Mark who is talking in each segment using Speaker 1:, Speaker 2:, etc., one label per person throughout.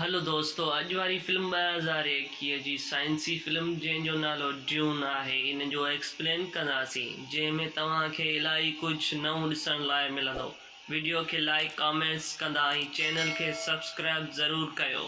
Speaker 1: هلو دوستو اڄ واري فلم ٻه هزار ايڪيهه جي سائنسي فلم جنهن جو نالو ڊيون آهي ان جو ايڪسپلين ڪنداسين جنهن ۾ توهان کي الائي ڪجهه نئون ڏسڻ لاء ملندو وڊيو کي لائيڪ ڪامينٽس ڪندا ۽ چينل کي سبسڪرائب ضرور ڪيو.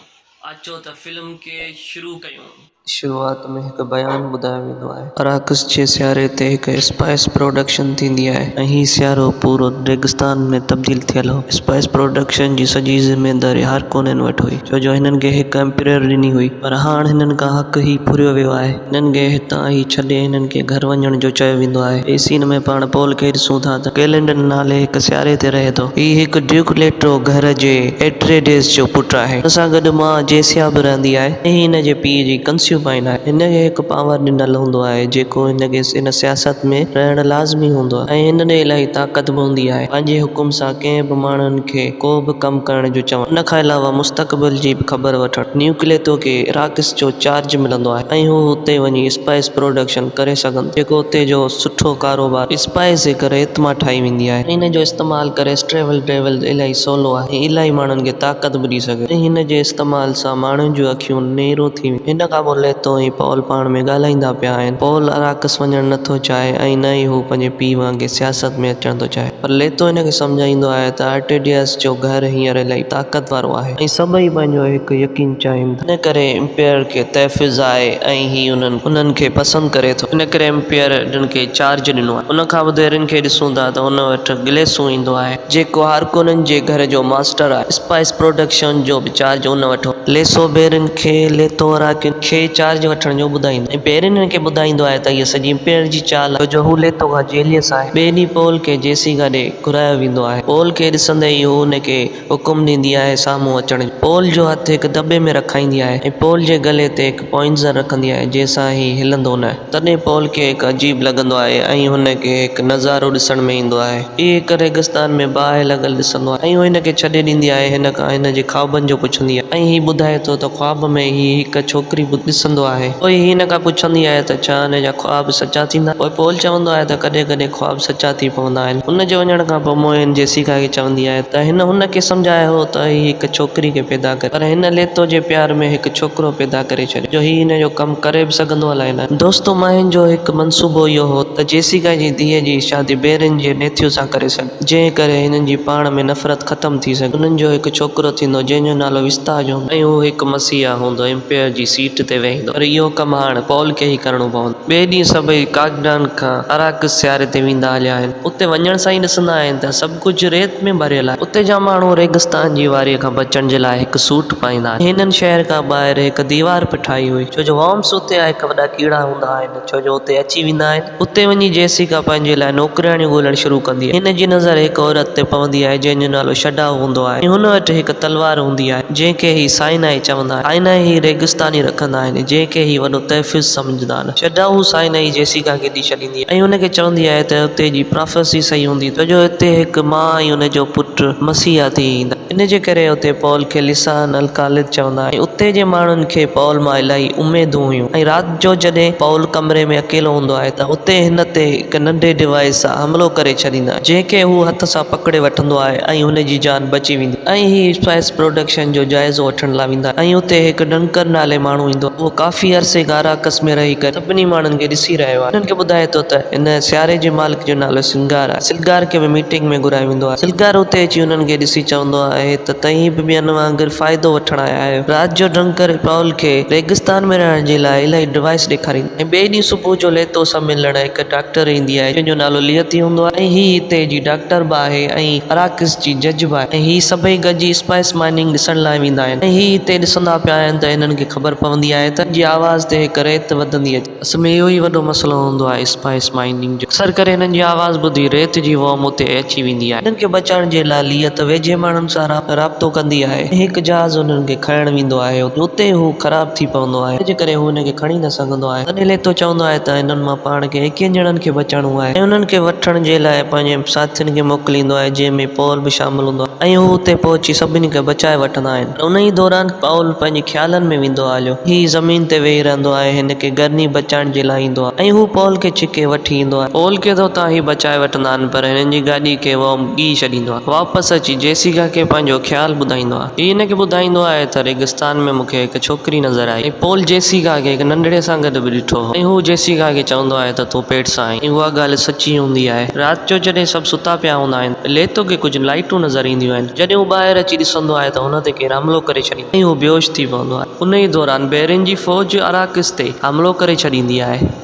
Speaker 1: اچو ته فلم کي شروع ڪيون. شروعات ۾ هڪ بيان ٻڌايو ويندو آهي. اراڪس جي سياري تي هڪ اسپائيس پروڊڪشن ٿيندي آهي ۽ هي سيارو پورو ريگستان ۾ تبديل ٿيل هو. اسپائيس پروڊڪشن جي سڄي ذميواري هارڪونين وٽ هئي، ڇو جو هنن کي هڪ امپريئر ڏني هئي، پر هاڻ هنن کان حق هي ڦريو ويو آهي. هنن کي هتان هي ڇڏي هنن کي گهر وڃڻ جو چيو ويندو آهي. هي سين ۾ پاڻ پول کي ڏسون ٿا ته ڪيلنڊن نالي هڪ سياري تي رهي ٿو. هي هڪ ڊيوڪ ليٽرو گهر جي ايٽريڊيز جو پٽ آهي. هن سان گڏ ماء جيسيا به رهندي آهي ۽ هي هن جي پيء جي ڪنسيوبائن آهي. هن کي هڪ پانور ڏنل هوندو آهي جيڪو هن کي هن سياست ۾ رهڻ لازمي هوندو آهي ۽ هن ڏي الاهي طاقت به هوندي آهي پنهنجي حڪم سان ڪنهن به ماڻهن کي ڪو به ڪم ڪرڻ جو چوڻ ان کان علاوه مستقبل جي به خبر وٺڻ نيوڪليتو کي راڪس جو چارج ملندو آهي ۽ هو اتي وڃي اسپائس پروڊڪشن ڪري سگهن ٿو جيڪو اتي جو سٺو ڪاروبار اسپائس جي ڪري اتما ٺاهي ويندي آهي ۽ هن جو استعمال ڪري اسٽريول ڊيول الاهي سولو آهي. ۽ الائي ماڻهن کي طاقت به ڏئي سگهي ٿو. هن جي استعمال سان ماڻهن جون اکيون نيرو ٿي ويون آهن. هن کان پوء ليتو ۽ پول پاڻ ۾ ڳالهائيندا پيا آهن. پول اراڪس وڃڻ نه ٿو چاهي ۽ نه ئي هو پنهنجي پيء وانگي سياست ۾ اچڻ ٿو چاهي. پر ليتو هن کي سمجهائيندو آهي ته ارٽيڊياس جو گهر هينئر الائي طاقت وارو آهي. ۽ سڀئي پنهنجو هڪ يقين چاهين ٿا. ان ڪري امپيئر کي تحفظ آهي ۽ هي انهن کي پسند ڪري ٿو. ان ڪري امپيئر هن کي چارج ڏنو آهي. ان کان وڌ هرن کي ڏسون ٿا ته هن وٽ گليسون ايندو آهي. جيڪو هارڪونن جي گهر جو ماسٽر آهي. اسپائس پروڊڪشن جو به چارج ان وٽ هوندو. ليسو بيرن کي ليٿو هراڪين کي چارج وٺڻ جو ٻڌائيندو ۽ بيرن هن کي ٻڌائيندو آهي ته اها سڄي امپيئر جي چال آهي، ڇوجو هو ليٿو کان جيليس آهي. ٻئي ڏينهن پول کي جيسيڪا ڏي گهرايو ويندو آهي. پول کي ڏسندي ئي هو هن کي حڪم ڏيندي آهي سامهون اچڻ جو. پول جو هٿ هڪ دٻي ۾ رکائيندي آهي ۽ پول جي گلي تي هڪ. پوئنزر رکندي آهي، جنهن سان هي هلندو نه آهي. تڏهن پول کي هڪ عجيب لڳندو آهي ۽ هن کي هڪ نظارو ڏسڻ ۾ ايندو آهي. هي هڪ ريگستان ۾ باهه لڳل ڏسندو آهي ۽ هو هن کي ڇڏي ڏيندي آهي هن کان هن جي خوابن جو پڇندي آهي ۽ هي ٻڌائي ٿو ته خواب ۾ هي هڪ ڇوڪري به ڏسندو آهي. پوء هي هن کان پڇندي آهي ته ڇا هن جا خواب سچا ٿيندا؟ پوء پول چوندو آهي ته ڪڏهن ڪڏهن خواب سچا ٿي پوندا آهن. ان جي وڃڻ کان پوء موهن جيسيڪا کي چوندي آهي ته هن هن کي سمجهايو هو ته هي هڪ ڇوڪري کي پيدا ڪري پر هن ليتو جي پيار ۾ هڪ ڇوڪرو پيدا ڪري ڇڏيو جو هي هن جو ڪم ڪري به سگهندو الائي نه. دوستو موهن جو هڪ منصوبو اهو هو ته جيسيڪا جي ڌيء جي شادي بيرن جي نيٿيو سان ڪري سگهي جنهن ڪري هنن جي پاڻ ۾ نفرت ختم ٿي سگهي انهن جو هڪ ڇوڪرو ٿيندو جنهن جو نالو وستاج هوندو ۽ هو هڪ مسيحا هوندو امپيئر جي سيٽ تي ويهندو پر اهو ڪم هاڻ پول کي ئي ڪرڻو پوندو. ٻئي ڏينهن سڀئي ڪاڳڊان کان اراڪس سياري تي ويندا هليا آهن. اتي وڃڻ سان ئي ڏسندا آهن ته سڀ ڪجهه ريت ۾ ڀريل آهي. اتي جا ماڻهو ريگستان جي واريء کان بچڻ جي لاء هڪ سوٽ پائيندا آهن. هنن شهر کان ٻاهر هڪ ديوار به ٺاهي هئي، ڇو جو وارمس اتي آهي هڪ وڏا ڪيڙا هوندا آهن، ڇو جو اتي اچي ويندا آهن. اتي وڃي جيسيڪا پنهنجي لاء نوڪرياڻيون ڳولڻ شروع ڪندي آهي. هن جي نظر هڪ عورت تي پوندي آهي، جنهن جو نالو شڊائو هوندو آهي ۽ هن وٽ هڪ تلوار هوندي آهي، جنهن کي هي سائنائي چوندا آهن. سائنائي هي ريگستاني رکندا آهن، جنهن کي هي وڏو تحفظ سمجهندا آهن. سمجهدار شيڊا هو سائنائي جيسيڪا کي ڏئي ڇڏيندي آهي ۽ هن کي چوندي آهي ته اتي جي پرافيسي صحيح هوندي ڇو جو اتي هڪ ما ۽ ان جو پٽ مسيحا ٿي ايندا ان جي ڪري اتي پول کي لسان الخالد چوندا آهن ۽ اتي جي ماڻهن کي پول مان الاهي اميدون هيون ۽ رات جو جڏهن پول ڪمري ۾ اڪيلو هوندو آهي ته اتي هن تي هڪ ننڍي ڊوائيس سان حملو ڪري ڇڏيندا آهن جنهن کي هو هٿ سان پڪڙي وٺندو آهي ۽ هن جي جان بچي ويندي آهي. ۽ هي اسپائيس پروڊڪشن جو جائزو وٺڻ لاء ويندا آهن ۽ اتي هڪ ڊنڪن نالي ماڻهو ايندو آهي اهو ڪافي عرصي کان اراڪس ۾ رهي ڪري سڀني ماڻهن کي ڏسي رهيو آهي انهن کي ٻڌائي ٿو ته هن سياري جي مالڪ جو نالو سلگار آهي سلگار کي به ميٽنگ ۾ گهرايو ويندو آهي سلگار اتي اچي انهن کي ڏسي چوندو آهي ته توهين به ٻين وانگر فائدو وٺڻ آيا آهيو رات جو ڊنڪن پائول کي ريگستان ۾ رهڻ جي لاء الائي ڊوائيس ڏيکاريندو آهي ۽ ٻئي ڏينهن صبح جو ليتو سان ملڻ هڪ ڊاڪٽر ايندي آهي جنهن جو نالو ليئتي هوندو آهي ۽ هي هتي جي ڊاڪٽر به آهي ۽ اراڪس جي جج به آهي ۽ هي سڀئي گڏجي اسپائس مائننگ ڏسڻ لاء ويندا آهن ۽ هي هتي ڏسندا پيا آهن ته هنن کي خبر پوندي آهي ته هنن جي آواز تي هڪ ريت وڌندي اچي ٿي. اصل ۾ اهو ئي وڏو مسئلو هوندو آهي اسپائس مائننگ جو. اڪثر ڪري هنن جي آواز ٻڌي ريت جي ووم اتي اچي ويندي آهي. هنن کي بچائڻ جي لاء ليئت ويجهي ماڻهن سان رابطو ڪندي آهي ۽ هڪ جهاز هنن کي کڻڻ ويندو آهي ۽ اتي هو خراب ٿي پوندو آهي جنهن جي ڪري هو هن کي کڻي نه سگهندو آهي. ڪنهن لئه تو چوندو آهي ته هنن مان پاڻ کي ايڪيهن ڄڻن کي بچائڻو آهي ۽ انهن کي وٺڻ جي لاء پنهنجي ساٿين کي موڪليندو آهي جنهن ۾ پائول به شامل هوندو آهي ۽ هو اتي پهچي سڀني کي بچائي وٺندا آهن ۽ انهيء دوران
Speaker 2: پائول پنهنجي خيالن ۾ ويندو آهي هليو هي زمين تي ويهي رهندو آهي هن کي گرني بچائڻ جي لاء ايندو آهي ۽ هو پائول کي ڇڪي وٺي ايندو آهي. پائول کي ته اتان هي بچائي وٺندا آهن پر هنن جي گاڏي کي ووم ڳهي ڇڏيندو آهي واپس اچي جيسيڪا کي پنهنجو خيال ٻڌائيندو آهي. هي هن کي ٻڌائيندو آهي ته ريگستان ۾ مون کي هڪ ڇوڪري نظر آئي ۽ پول جيسيڪا کي هڪ ننڍڙي سان گڏ به ڏٺو هو ۽ هو جيسيڪا کي چوندو آهي ته تون پيٽ سان آهين ۽ اها ڳالهه سچي هوندي آهي. رات جو جڏهن سڀ ستا پيا هوندا آهن ته ليتو کي ڪجهه لائيٽون نظر اينديون آهن جڏهن هو ٻاهر اچي ڏسندو آهي ته هن تي ڪير حملو ڪري ڇڏيندو آهي ۽ هو بيهوش ٿي پوندو آهي انهي دوران بحرين جي فوج اراڪس تي حملو ڪري ڇڏيندي آهي.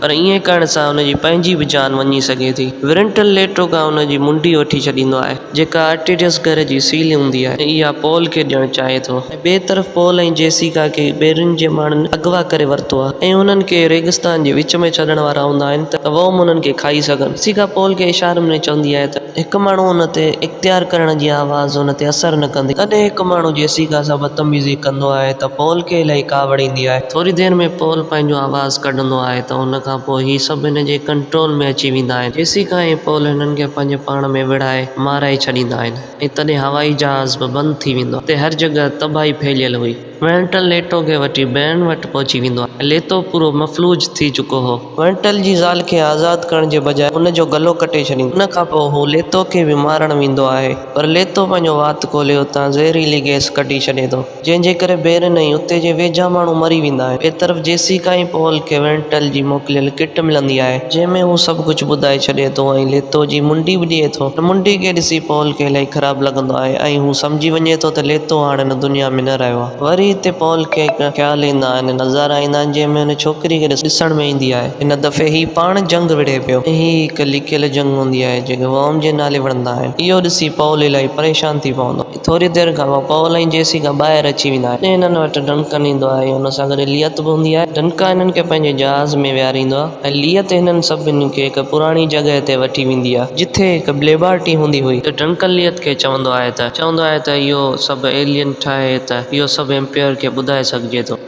Speaker 2: پر ائين ڪرڻ سان ان جي پنهنجي به جان وڃي سگهي ٿي. ورنٽل ليٽو کان ان جي منڊي وٺي ڇڏيندو آهي، جيڪا آرٽيڊيس گهر جي سيلي هوندي آهي ۽ اها پول کي ڏيڻ چاهي ٿو. ٻئي طرف پول ۽ جيسيڪا کي ٻيرين جي ماڻهن اغوا ڪري ورتو آهي ۽ انهن کي ريگستان جي وچ ۾ ڇڏڻ وارا هوندا آهن ته ووم انهن کي کائي سگهن. جيسيڪا پول کي اشارن ۾ چوندي آهي ته. هڪ ماڻهو ان تي اختيار ڪرڻ جي آواز ان تي اثر نه ڪندي. ڪڏهن هڪ ماڻهو جيسيڪا سان بدتميزي ڪندو آهي ته پول کي الائي ڪاوڙ ايندي آهي. ٿوري دير ۾ پول پنهنجو آواز. ڪڍندو آهي ته ان کان پوء هي سڀ هن جي ڪنٽرول ۾ اچي ويندا آهن، جيسيکان هي پول هنن کي پنهنجي پاڻ ۾ وڙهائي مارائي ڇڏيندا آهن ۽ تڏهن هوائي جهاز به بند ٿي ويندو آهي، اتي هر جڳهه تباهي ڦهليل هئي. وينٽل ليٽو کي وٺي بيرن وٽ پهچي ويندو آهي ۽ ليتو پورو مفلوج ٿي چڪو هو. وينٽل جي زال کي آزاد ڪرڻ جي بجاء هن جو گلو ڪٽي ڇڏيندو آهي، ان کان پوء هو ليتو کي به مارڻ ويندو آهي، پر ليتو پنهنجو وات کولي اتان زهريلي گئس ڪڍي ڇڏي ٿو. جنهن جي ڪري بيرن ۽ اتي جي ويجها ماڻهو مري ويندا آهن. ٻئي طرف جيسيڪا ۽ پول کي وينٽل جي موڪليل ڪٽ ملندي آهي، جنهن ۾ هو سڀ ڪجهه ٻڌائي ڇڏي ٿو ۽ ليتو جي منڊي به ڏئي ٿو. هن منڊي کي ڏسي پول کي الائي خراب لڳندو آهي ۽ هو سمجهي وڃي ٿو ته ليتو هاڻ هن دنيا ۾ نه رهيو آهي. وري اتي پول کي ڪا خيال ايندا آهن ۽ نظارا ايندا آهن، جنهن ۾ هن ڇوڪري کي ڏسڻ ۾ ايندي آهي. هن دفعي هي پاڻ جنگ وڙهي پيو ۽ هي هڪ لڪيل جنگ هوندي آهي، جنهن کي ورم جي نالي وڻندا آهن. اهو ڏسي پول الائي پريشان ٿي پوندو آهي. ٿوري دير کان پوء پول ۽ جيسيڪا ٻاهر اچي ويندا آهن ۽ هنن وٽ ڊنڪن ايندو آهي ۽ هن سان گڏ اليت به هوندي آهي ڊنڪن هنن کي پنهنجي جهاز ۾ ويهاريندو آهي ۽ اليت هنن سڀني کي هڪ پراڻي جڳهه تي وٺي ويندي آهي جتي هڪ ليبارٽري هوندي هئي ته ڊنڪن اليت کي چوندو آهي ته چوندو آهي ته اهو سڀ ايلين ٺاهي ته اهو سڀ امپيئر کي ٻڌائي سگهجي ٿو.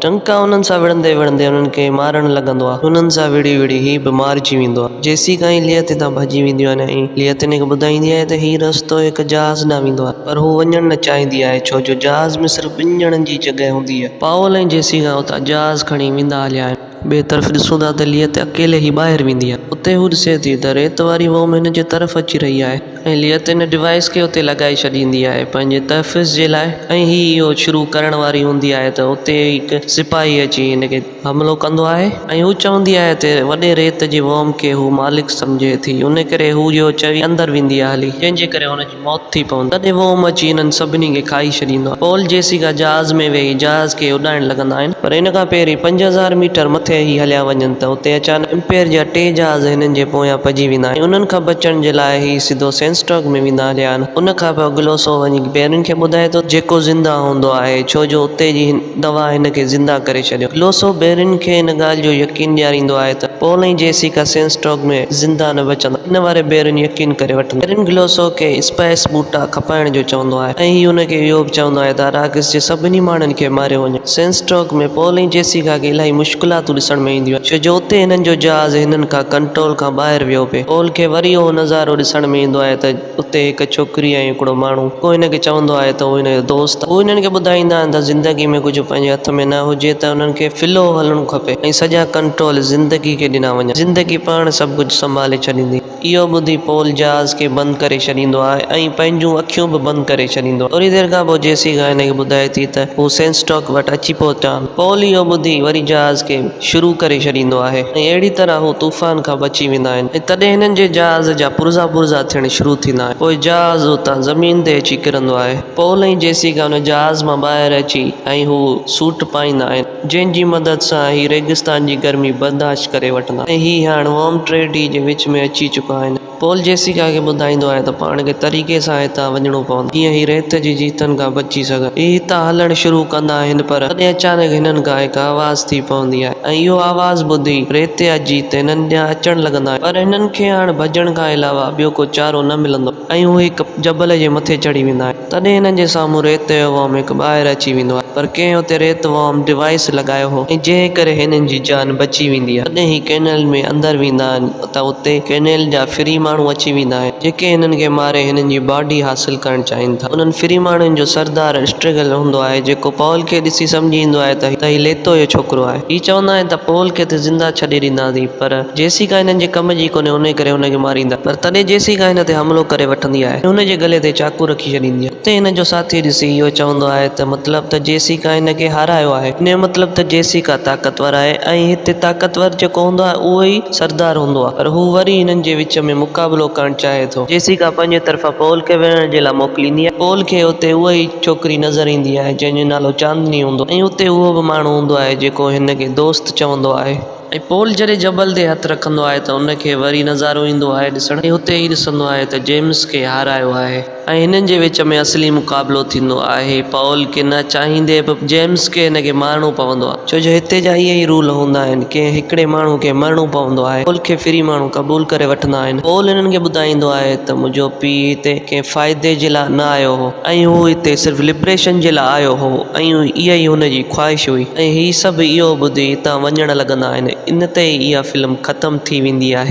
Speaker 2: ٽنڪا انهن سان وڙهندي وڙهندي انهن کي مارڻ لڳندو آهي. انهن سان وڙهي وڙهي هي به مارجي ويندو آهي. جيسين ڪا هي ليئٿ هتان ڀڄي وينديون آهن ۽ ليئٿ هن کي ٻڌائيندي آهي ته هي رستو هڪ جهاز ڏانهن ويندو آهي. پر هو وڃڻ نه چاهيندي آهي ڇو جو جهاز ۾ صرف ٻن ڄڻن جي جڳهه هوندي آهي. پائول ۽ جيسين کان اتان جهاز کڻي ويندا هليا آهن. ٻئي طرف ڏسون ٿا ته ليئٿ اڪيلي ئي ٻاهر ويندي آهي. اتي هو ڏسي ٿي ته ريت واري ووم هن جي طرف اچي رهي آهي. ۽ ليئت ان ڊوائيس کي اتي لڳائي ڇڏيندي آهي پنهنجي تحفظ جي لاء ۽ هي اهو شروع ڪرڻ واري هوندي آهي ته اتي هڪ سپاهي اچي هن کي حملو ڪندو آهي ۽ هو چوندي آهي ته وڏي ريت جي ووم کي هو مالڪ سمجهي ٿي ان ڪري هو اهو چوي اندر ويندي آهي هلي جنهن جي ڪري هن جي موت ٿي پوندي آهي تڏهن ووم اچي هنن سڀني کي کائي ڇڏيندو آهي پول جيسيڪا جهاز ۾ ويهي جهاز کي اڏائڻ لڳندا آهن. پر ان کان پهرين پنج هزار ميٽر مٿي هي هليا وڃن ته اتي اچانڪ امپيئر جا ٽي جهاز هنن جي پويان پئجي ويندا ۽ انهن کان بچڻ جي لاء هي سڌو سينسٽرڪ ۾ ويندا هليا آهن ان کان پوء گلوسو وڃي پيرين کي ٻڌائي ٿو ته جيڪو زنده هوندو آهي ڇو جو اتي جي دوا هن کي زنده ڪري ڇڏيو گلوسو پيرين کي ان ڳالهه جو يقين ڏياريندو آهي ته پول ۽ جيسيڪا سينسٽرڪ ۾ زنده نه بچندا ان واري پيرين يقين ڪري وٺندو آهي پيرين گلوسو کي اسپائس ٻوٽا کپائڻ جو چوندو آهي ۽ هي هن کي اهو به چوندو آهي ته اراڪس جي سڀني ماڻهن کي ماريو وڃي. سينسٽوڪ ۾ پول ۽ جيسيڪا کي الاهي مشڪلاتون ڏسڻ ۾ اينديون آهن ڇو جو اتي هنن جو جهاز هنن کان ڪنٽرول کان ٻاهر ويو پئي پول کي وري اهو نظارو ڏسڻ ۾ ايندو آهي ته اتي هڪ ڇوڪري ۽ هڪڙو ماڻهو ڪو هن کي چوندو آهي ته هو هن جو دوست آهي هو هنن کي ٻڌائيندا آهن ته زندگي ۾ ڪجهه پنهنجي هٿ ۾ نه هجي ته انهن کي فلو هلڻو کپي ۽ سڄا ڪنٽرول زندگي کي ڏنا وڃن زندگي پاڻ سڀ ڪجهه سنڀالي ڇڏيندي. اهو ٻڌي پول جهاز کي بند ڪري ڇڏيندو آهي ۽ پنهنجون اکيون به بند ڪري ڇڏيندو آهي. ٿوري دير کان پوء جيسيڪا هن کي ٻڌائي ٿي ته هو سينسٽاڪ وٽ اچي پهتا آهن. پول اهو ٻڌي وري جهاز کي شروع ڪري ڇڏيندو آهي ۽ اهڙي طرح هو طوفان کان بچي ويندا آهن ۽ تڏهن هنن جي جهاز جا پرزا پرزا ٿيڻ شروع ٿيندا آهن. پوء جهاز اتان زمين تي اچي ڪرندو آهي. پول ۽ جيسيڪا ان جهاز مان ٻاهر اچي ۽ هو سوٽ پائيندا آهن. جنهن جي مدد سان هي ريگستان جي گرمي برداشت ڪري وٺندا ۽ هي هاڻ وارم ٽريڊي جي وچ ۾ اچي چڪا آهن. پول جيسيڪا کي ٻڌائيندو آهي ته پاڻ کي طريقي سان هتان وڃڻو پوندو جيئن هي ريت جي جيتن کان بچي سگهن. هي هتان هلڻ شروع ڪندا آهن پر تڏهن اچانڪ هنن کان هڪ آواز ٿي پوندي آهي ۽ اهو آواز ٻڌي ريتيا جيت هنن ڏانهن اچڻ لڳندا آهن پر هنن کي هاڻ ڀڄڻ کان علاوه ٻيو ڪو چارو نه ملندو آهي ۽ هو هڪ جبل جي مٿي چڙهي ويندا آهن. تڏهن هنن جي سامهون ريت جو وام هڪ ٻاهر اچي ويندو آهي پر ڪنهن اتي ريت وام ڊوائيس لڳايو هو ۽ جنهن ڪري هنن جي جان بچي ويندي آهي تڏهن هي ڪينيل ۾ اندر ويندا آهن ته اتي ڪينيل جا فري ماڻهو اچي ويندا آهن جيڪي هنن کي ماري هنن جي باڊي حاصل ڪرڻ چاهين ٿا انهن فري ماڻهن جو سردار اسٽريگل هوندو آهي جيڪو پول کي ڏسي سمجهي ايندو آهي ته هي ليتو جو ڇوڪرو آهي هي چوندا آهن ته پول کي ته زنده ڇڏي ڏينداسين پر جيسيڪا هنن جي ڪم جي ڪونهي انهي ڪري هن کي ماريندا پر تڏهن جيسيڪا هن تي حملو ڪري وٺندي آهي ۽ هن جي گلي تي چاقو رکي ڇڏيندي آهي اتي هن جو ساٿي ڏسي اهو چوندو آهي ته مطلب ته جيسيڪا هن کي هارايو آهي ان جو مطلب ته جيسيڪا طاقتور آهي ۽ هتي طاقتور جيڪو هوندو آهي اهو ئي سردار هوندو آهي پر هو وري هنن جي وچ ۾ مقابلو ڪرڻ چاهي ٿو. جيسيڪا پنهنجي طرفان پول کي وڙهڻ جي لاء موڪليندي آهي پول کي اتي اها ئي ڇوڪري نظر ايندي آهي جنهن جو نالو چاندني هوندو ۽ اتي اهو به ماڻهو هوندو آهي جيڪو هن کي دوست چوندو آهي. ۽ پول جڏهن جبل تي هٿ رکندو آهي ته ان کي وري نظارو ايندو آهي ڏسڻ ۽ هتي هي ڏسندو آهي ته جيمس کي هارايو آهي ۽ هنن جي وچ ۾ اصلي مقابلو ٿيندو آهي پول کي نه چاهيندي به جيمس کي هن کي مارڻو پوندو آهي ڇو جو هتي جا اهي ئي رول هوندا آهن ڪنهن هڪڙي ماڻهو کي مرڻو پوندو آهي پول کي فري ماڻهو قبول ڪري وٺندا آهن پول هنن کي ٻڌائيندو آهي ته منهنجو پيء هتي ڪنهن فائدي جي لاء نه آيو هو. ۽ هو هتي صرف لبريشن جي لاء آيو هو ۽ اها ئي هن جي خواهش هئي ۽ هي سڀ اهو ٻڌي هتان وڃڻ لڳندا آهن ان تي ئي اها فلم ختم ٿي ويندي آهي.